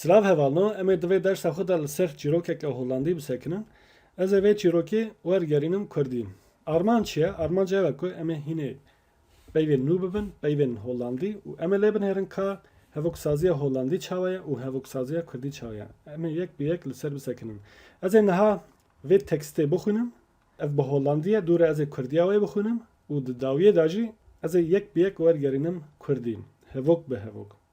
Silav hevalno, em ê di vê dersa xwe de li ser çîrokeke holandî bisekinin. Ez ê vê çîrokê wergerînim kurdî. Armanc çi ye? Armanc ew e ku em ê hînê peyvên nû bibin, peyvên holandî û em ê lê binêrin ka hevoksaziya holandî çawa ye û hevoksaziya kurdî çawa ye. Em ê yek bi yek li ser bisekinin. Ez ê niha vê tekstê bixwînim. Ev bi holandî ye, dûre ez ê kurdiya wê bixwînim û di dawiyê de jî ez ê yek bi yek wergerînim kurdî, hevok bi hevok.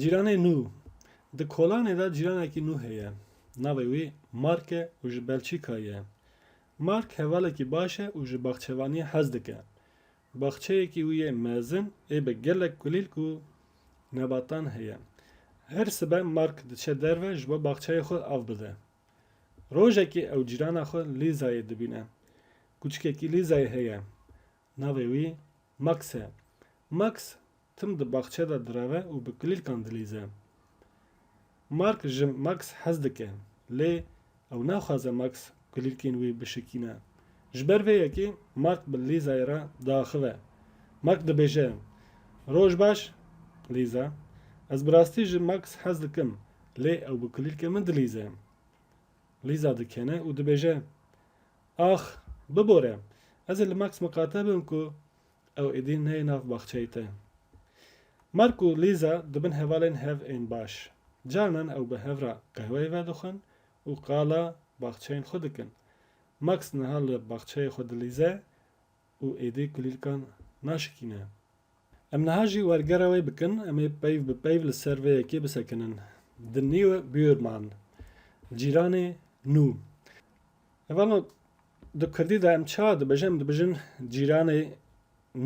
Cîranê nû Di kolanê de cîranekî nû heye. Navê wî Mark e û ji Belçîkayê ye. Mark hevalekî baş e û ji baxçevaniyê hez dike. Baxçeyekî wî yê mezin ê bi gelek kulîlk û nebatan heye. Her sibe Mark diçe derve ji bo baxçeyê xwe av bide. Rojekê ew cîrana xwe Lîzayê dibîne. Kûçikekî Lîzayê heye. Navê wî Max e. Max tim di baxçe de direve û bi kilîlkan dilîze. Mark ji Max hez dike, lê ew naxwaze Max kilîlkên wî bişikîne. Ji ber vê yekê Mark bi Lîzayê re diaxive. Mark dibêje, Roj baş, Lîza. Ez bi rastî ji Max hez dikim, lê ew bi kilîlkên min dilîze. Lîza dikene û dibêje, Ax! Bibore! Ez ê li Max miqate bim ku ew êdî neyê nav baxçeyê te. Mark û Lîza dibin hevalên hev ên baş. Carinan ew bi hev re qehweyê vedixwin û qala baxçeyên xwe dikin. Max niha li baxçeyê xwe dilîze û êdî kulîlkan naşikîne. Em niha jî wergera wê bikin, em ê peyv bi peyv li ser vê yekê bisekinin. The new buurman, cîranê nû. Evano di kurdî de em çawa dibijin? Em dibijin cîranê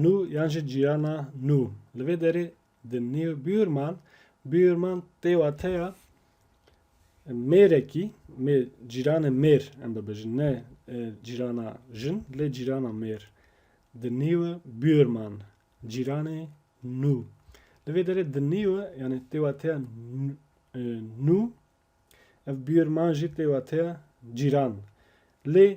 nû yan jî cîrana nû. Li vê derê The New Bürman, Bürman tê wateya mêrekî, mêr, cîranê mêr em bibêjin, ne e, cîrana jin, lê cîrana mêr. The New Bürman, cîranê nû. Li vê derê The New, yani tê wateya n- e, nû, ev Bürman jî tê wateya cîran. Lê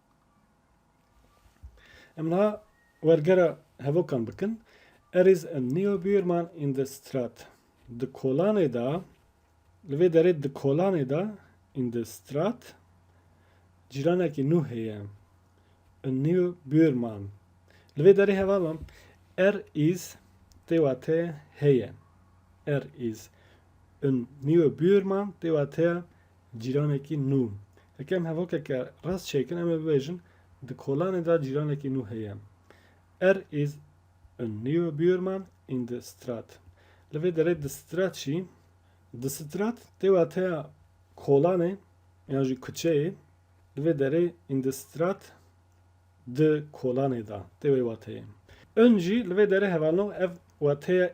Em niha wergera hevokan bikin. Er is en Neo Bürman in the Strat. Di kolanê de, li vê derê di kolanê de in the Strat cîranekî nû heye. En Neo Bürman. Li vê derê hevala er is tê wateya heye. Er is en Neo Bürman tê wateya Cîranekî nû. Heke em hevokeke rast çêkin em ê bibêjin di kolanê de cîranekî nû heye. Er is a neue Buurman in de Straat. Li vê derê di strat jî. Di strat tê wateya kolanê yan jî kuçeyê. Li vê derê in de Straat di kolanê de tê wê wateyê. Ön jî li vê derê hevalno ev wateya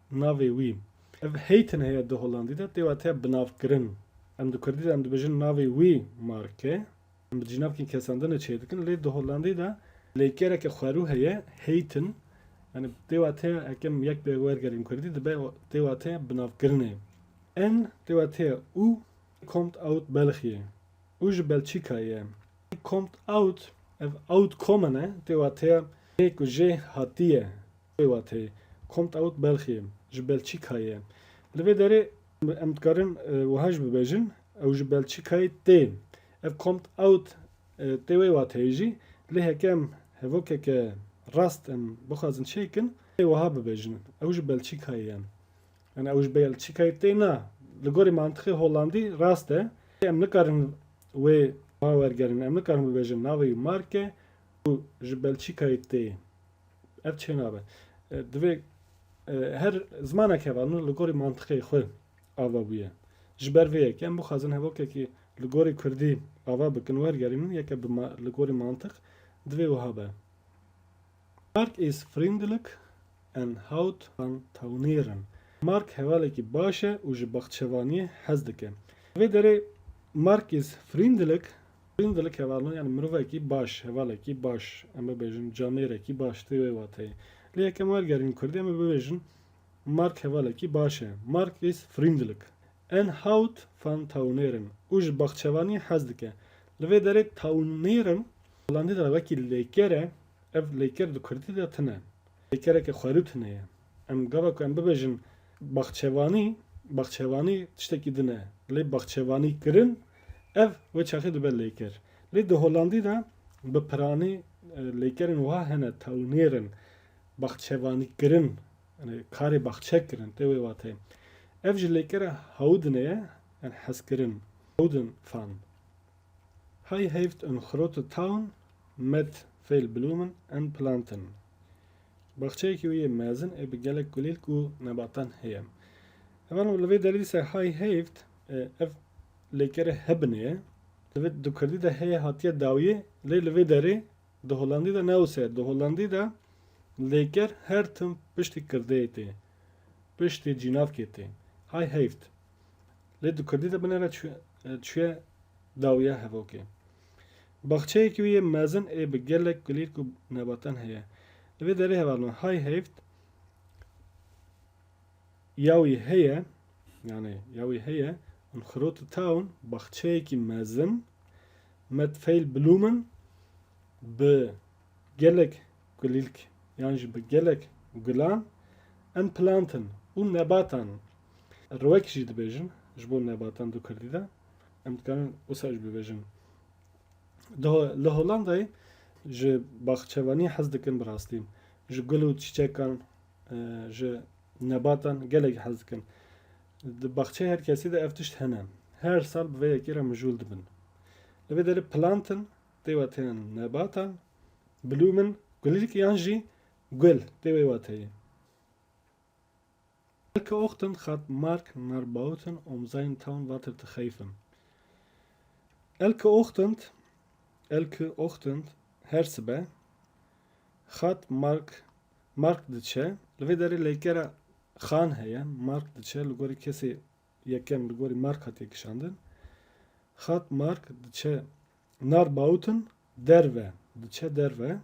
Navê wî. Ev heytin heye di Holandî de tê wateya binavkirin. Em di Kurdî de em dibêjin navê wî mark e. Em bi cînavkî kesandinê çêr dikin lê di Holandî de lêkereke xwerû heye heytin yanî tê wateya eke em yek bi wergerîn Kurdî dibe tê wateya binavkirinê. En tê wateya û kommt aut België. Û ji Belçîkayê ye. Kommt aut ev aut kommen e tê wateya lê ku jê hatiye. Wê wate, Kommt aut Belchie, ji Belçîkayê. Li vê derê em dikarin wiha jî bibêjin, Ew ji Belçîkayê tê. Ev Kommt aut tê wê wateyê jî, lê heke em hevokeke rast em bixwazin çê bikin, divê wiha bibêjin, Ew ji Belçîkayê ye. Yan Ew ji Belçîkayê tê na, li gorî mantixê Hollandî rast e, lê em nikarin wê wiha wergerin, em nikarin bibêjin navê wî Mark e û ji Belçîkayê tê. Ev çênabe. Divê her zimanek heva nu li gorî mantiqê xwe ava bûye. Ji ber vê yekê em bixwazin hevokekî li gorî kurdî ava bikin wergerînin yeke bi li gorî mantiq divê wiha be. Mark is vriendelijk en houdt van tuinieren. Mark hevalekî baş e û ji baxçevaniyê hez dike. Di vê derê Mark is vriendelijk Greenville kevalno yanî mirovekî baş, hevalekî baş em bibêjin, camêrekî baş tê wê wateyê. Lê yek em wergerînin kurdî em ê bibêjin Mark hevalekî baş e. Mark is vriendelijk. En houdt van tuineren. Û ji baxçevaniyê hez dike. Li vê derê tuineren holandî de wekî lêker e. Ev lêker di kurdî de tune. Lêkereke xwerû tune ye. Em gava ku em bibêjin baxçevanî, baxçevanî tiştekî din e. Lê baxçevanî kirin, ev wê çaxê dibe lêker. Lê di Holandî de bi piranî lêkerên wiha hene, tawnêr in. Baxçevanî kirin, yanî karê baxçe kirin tê wê wateyê. Ev ji lêkera Houden e, yan hezkirin, Houden fan. Hei Heft und Xrote Taun met viel Blumen und Planten Baxçeyekî wî yê mezin ê bi gelek gulîlk û nebatan heye. Heval û li vê dervî ser Hei Heft ev lêkerê hebinê ye. Divê di kurdî de heye hatiye dawiyê lê li vê derê di holandî de ne wisa ye. Di holandî de lêker her tim piştî kirdeyê tê, piştî cînavkê tê. Hei Heft Lê di kurdî de binêre çûye dawiya hevokê. Baxçeyekî wî yê mezin ê bi gelek kulîrk û nebatan heye. Li vê derê heval me hay heyft ya wî heye, yanê ya wî heye in Xirot û Taun baxçeyekî mezin met Feyl Blumen bi gelek kulîlk yan jî bi gelek gulan in plantin û nebatan Rewek jî dibêjin ji bo nebatan du kurdî de. Em dikarin wisa jî bibêjin. Di li Hollandayê ji baxçevaniyê hez dikin bi rastî. Ji gul û çîçekan, ji nebatan gelek hez dikin. Di baxçeyê her kesî de ev tişt hene. Her sal bi vê yekê re mijûl dibin. Li vê derê plantin tê wateyan nebatan, blûmin, gulîlk yan jî gul tê wê wateyê. Elke Ochten hat Mark nar Bauten um sein Town water te cheifen. Elke Ochtend, Elke Ochtend, her sibe, hat Mark, Mark diçe, li vê derê leykera xan heye, Mark diçe, li gorî kesê yekem li gorî Mark hatiye kişandin, hat Mark diçe Nar Bauten derve diçe derve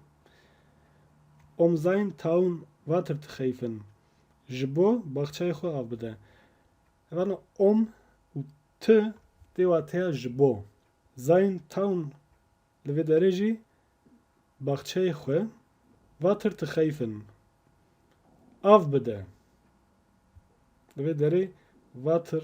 Um sein Taun water te xeyfin ji bo baxçeyê xwe av bide. Rana Um û Ti tê wateya ji bo. Sein Taun li vê derê jî baxçeyê xwe water te xeyfin av bide. Li vê derê water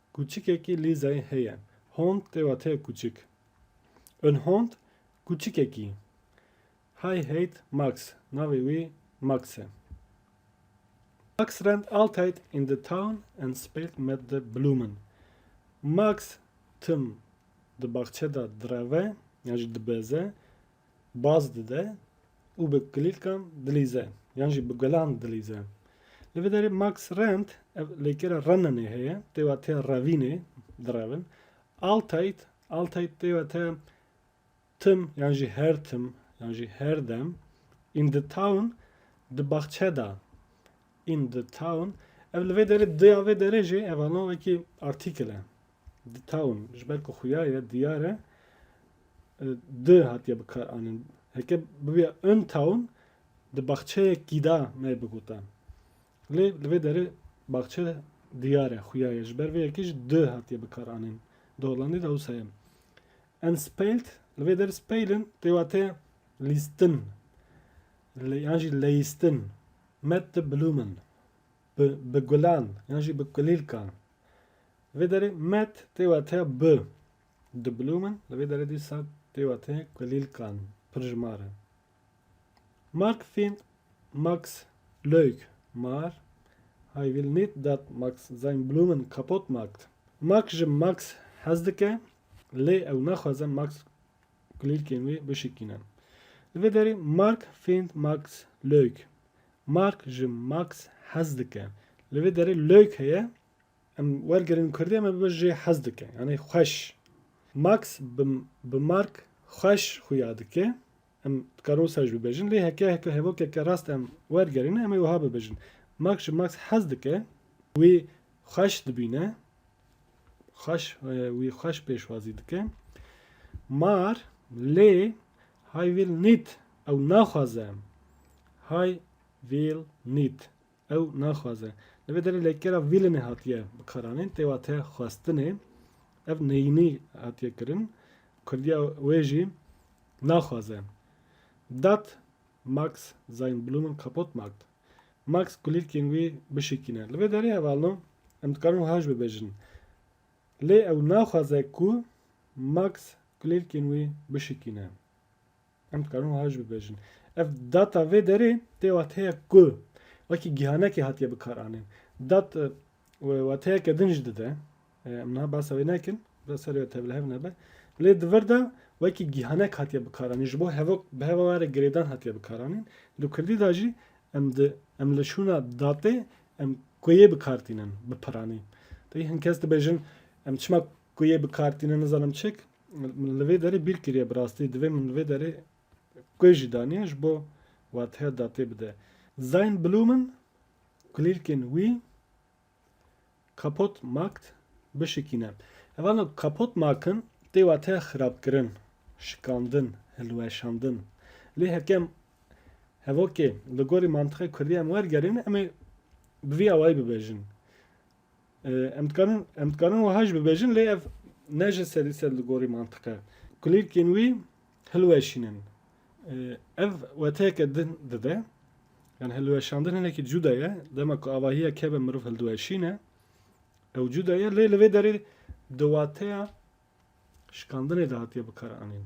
Kûçikekî Lîzayê heye. Hond tê wateya kûçik. In Hond kûçikekî. Hy hate Max. Navê wî Max e. Max rent altyd in the town and spelt met the Blumen. Max tim di baxçe de direve yan jî dibeze baz dide û bi kulîlkan dilîze yan jî bi gulan dilîze. Li vê derê Max Rent ev lêkera Renanê heye, têwa te revînê direvin. Altait, Altait têwa te tim yan jî her tim yan jî her dem in the town di baxçe da in the town ev li vê derê diya vê derê jê ev alon wekî article e. The town. Ji ber ku xuya ye diyar e di hatiye bikar anin. Heke bibiya in town di baxçeyekî da me bigotan. Lê li vê derê baxçe diyar e xuya ye. Ji ber vê yekê jî di hatiye bikar anin. Di Hollandê de wisa ye. En spelt li vê derê spelin tê wate lîstin yan jî leyîstin. Met de blumen. Bi, bi gulan yan jî bi kulîlkan. Vê derê met tê wateya bi. Di blumen li vê derê dîsa tê wateya kulîlkan, pirjmar e. Mark fîn Max Leuk mar Hij wil nît dat Max zijn bloemen kapot maakt. Mark ji Max hez dike lê ew naxwaze Max kulîlkên wê bişikîne. Li vê derê Mark fînd Max Leuk. Mark ji Max hez dike. Li vê derê Leuk heye. Em wergirin kurdî em ê bibe jê hez dike yanî xweş. Max bi bi Mark xweş xuya dike. Em dikarin wisa jî bibêjin lê heke heke hevokeke rast em wergerîne em ê wiha bibêjin. Mark ji Max hez dike. Wî xweş dibîne. Xweş wî xweş pêşwazî dike. Mar lê Hay will nit, ew naxwaze. Hay will nit, ew naxwaze. Li vê derê lêkera willinê hatiye bikaranîn tê wate xwestinê. Ev neyînî hatiye kirin. Kurdiya wê jî naxwaze. Dat Max seine Blumen kaputt macht. Max kulîlkên wî bişikîne. Li vê derê hevalno em dikarin wiha jî bibêjin. Lê ew naxwaze ku Max kulêlkên wê bişikîne. Em dikarin wiha jî bibêjin. Ev data vê derê tê wateyek ku wekî gihanekê hatiye bikaranîn. Dat wateyeke din jî dide. Em niha behsa wê nekin, biraz serê wê tevlihev nebe. Lê di vir de wekî gihanek hatiye bikaranîn. Ji bo hevok bi heva were girêdan hatiye bikaranîn. Di kurdî de jî em di em li şûna datê Em kuyê bi kar tînin bi piranî. Taybî hin kes dibêjin em çima kuyê bi kar tînin nizanim çik. Min li vê derê bîr kiriye bi rastî divê min li vê derê kuy jî daniye ji bo wateya datê bide. Sein Blumen, kulîlkên wî, kaputt macht, bişikîne. Ev alna kaputt machen tê wateya xirabkirin, şikandin, hilweşandin. Lê hekem Hevokê, li gorî mantiqê kurdî em wergerîn, em ê bi vî awayî bibêjin. Em dikarin em dikarin wiha jî bibêjin lê ev ne ji sedî sed li gorî mantiq e. Kulîlkên wî hilweşînin. Ev weteyeke din dide. Yani hilweşandin hinekî cuda ye. Dema ku avahiya keve mirov hildiweşîne. Ew cuda ye lê li vê derê di wateya şikandinê de hatiye bikaranîn.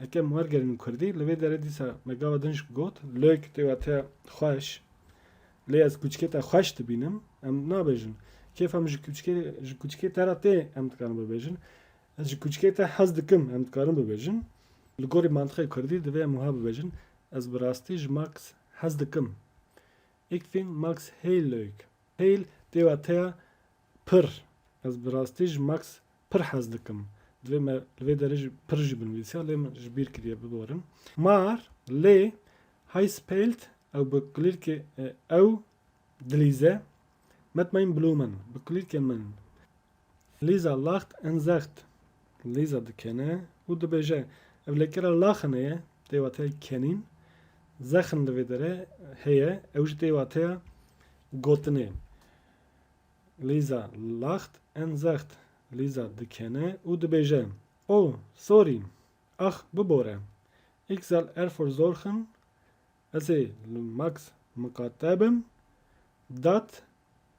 Eke em wergerînin kurdî, li vê derê dîsa me gava din jî got, lök tê wateya xweş. Lê ez kûçikê te xweş dibînim, em nabêjin. Kêfa min ji kûçikê ji kûçikê te re tê em dikarin bibêjin. Ez ji kûçikê te hez dikim em dikarin bibêjin. Li gorî mantiqê kurdî divê em wiha bibêjin, Ez bi rastî ji Max hez dikim. Ik fîn Max heyl lök. Heyl tê wateya pir. Ez bi rastî ji Max Pir hez dikim. Divê me li vê derê jî pir jî binivîsîya lê min ji bîr kiriye biborin. Mar, lê hay spelt ew bi kulîrkê ew dilîze Met mein blumen bi kulîrkê min Lisa lacht en Zecht Lisa dikene û dibêje Ev lêkera laxine ye tê wateyê kenîn Zexn li vê derê heye ew jî tê wateya gotinê. Lîza, laxt en zext. Lîza dikene û dibêje, Oh, sorry! Ax, bibore! Ik zal erfor zorxin Ez ê li Max miqate bim. Dat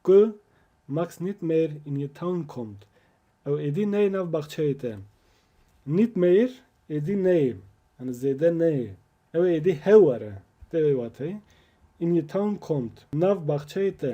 ku Max nit mehr in je Town kommt. Ew êdî neyê nav baxçeyê te. Nit mehr êdî neyê, yani zêde neyê. Ew ê êdî hew were. Tê vê wateyê in je Town kommt, nav baxçeyê te.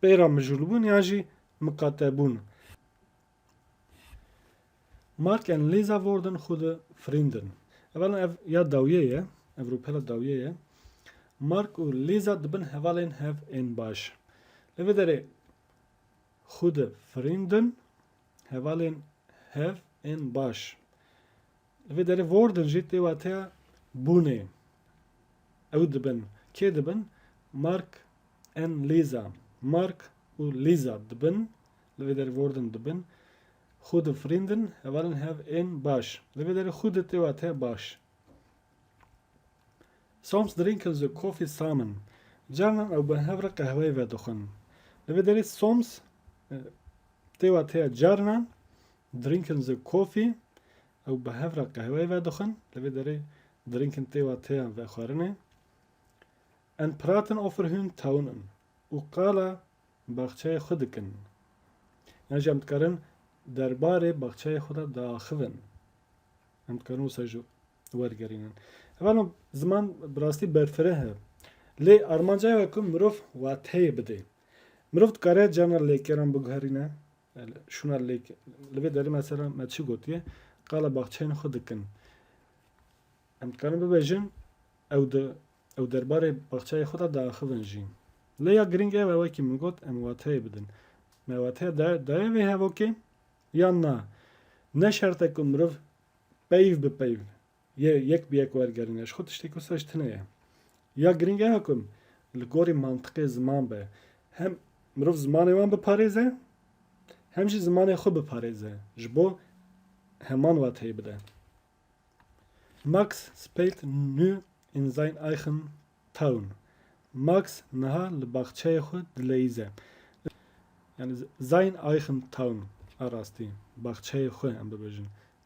Peyra mijûlbûn yan jî miqatebûn in. Mark and Lisa Worden xwe di firîndin. Evela ev ya dawiyê ye, ev rûpela dawiyê ye. Mark û Lisa dibin hevalên hev ên baş. Li vê derê xwe di firîndin hevalên hev ên baş. Li vê derê worden jî tê wateya bûnê. Ew dibin. Kê dibin? Mark an Lîza. Mark û Lîza dibin. Li vê derê worden dibin. Gute Frîndin, hevalên hev ên baş. Li vê derê gute tê wateya baş. Soms drinken ze Koffî samen. Carnan ew bi hev re qehweyê vedixwin. Li vê derê soms tê wateya carnan. Drinking the coffee, Ew bi hev re qehweyê vedixwin, li vê derê drinking tê wa têyan vexwarinê. En praten over hun taunen, Û qala baxçeyê xwe dikin. Yan jî em dikarin derbarê baxçeyê xwe de diaxivin. Em dikarin wisa jî wergerînin. Hevalno ziman bi rastî berfireh e. Lê armanca ew e ku mirov wateyê bidê. Mirov dikare carna lêkeran biguherîne, Şûna lêk, li vê derê mesela me çi gotiye, qala baxçeyên xwe dikin. Em dikarin bibêjin ew di ew derbarê baxçeyê xwe de diaxivin jî. Lê ya girîng ew e wekî min got em wateyê bidin. Me wateya da daye vê hevokê yan na? Ne şert e ku mirov peyv bi peyv Yê yek bi yek wergerîne. Ji xwe tiştê ku saj tune ye. Ya girîng ew e ku li gorî mantiqê ziman be. Hem mirov zimanê wan biparêze hem jî zimanê xwe biparêze ji bo heman wateyê bide. Max spelt nu in sein eichen Taun. Max niha li baxçeyê xwe dileyîze. Yanî sein eichen Taun a rastî, baxçeyê xwe em bibêjin.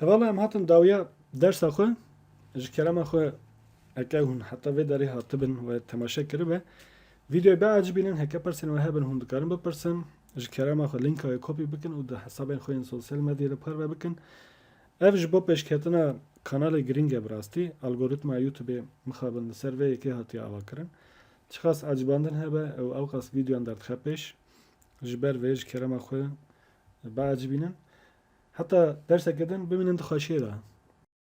Hevala em hatin dawiya dersa xwe ji kerema xwe eke hûn heta vê derê hatibin we temaşe kiribe vîdeoyê biacibînin heke persên we hebin hûn dikarin bipirsin ji kerema xwe linka wê kopî bikin û di hesabên xwe yên sosyal medyê de parve bikin ev ji bo pêşketina kanalê girîng e bi rastî algoritma youtubê mixabin li ser vê yekê hatiye avakirin çiqas acibandin hebe ew ewqas vîdeoyan derdixe pêş ji ber vê ji kerema xwe biacibînin heta derseke din bimînin di xweşiyê de.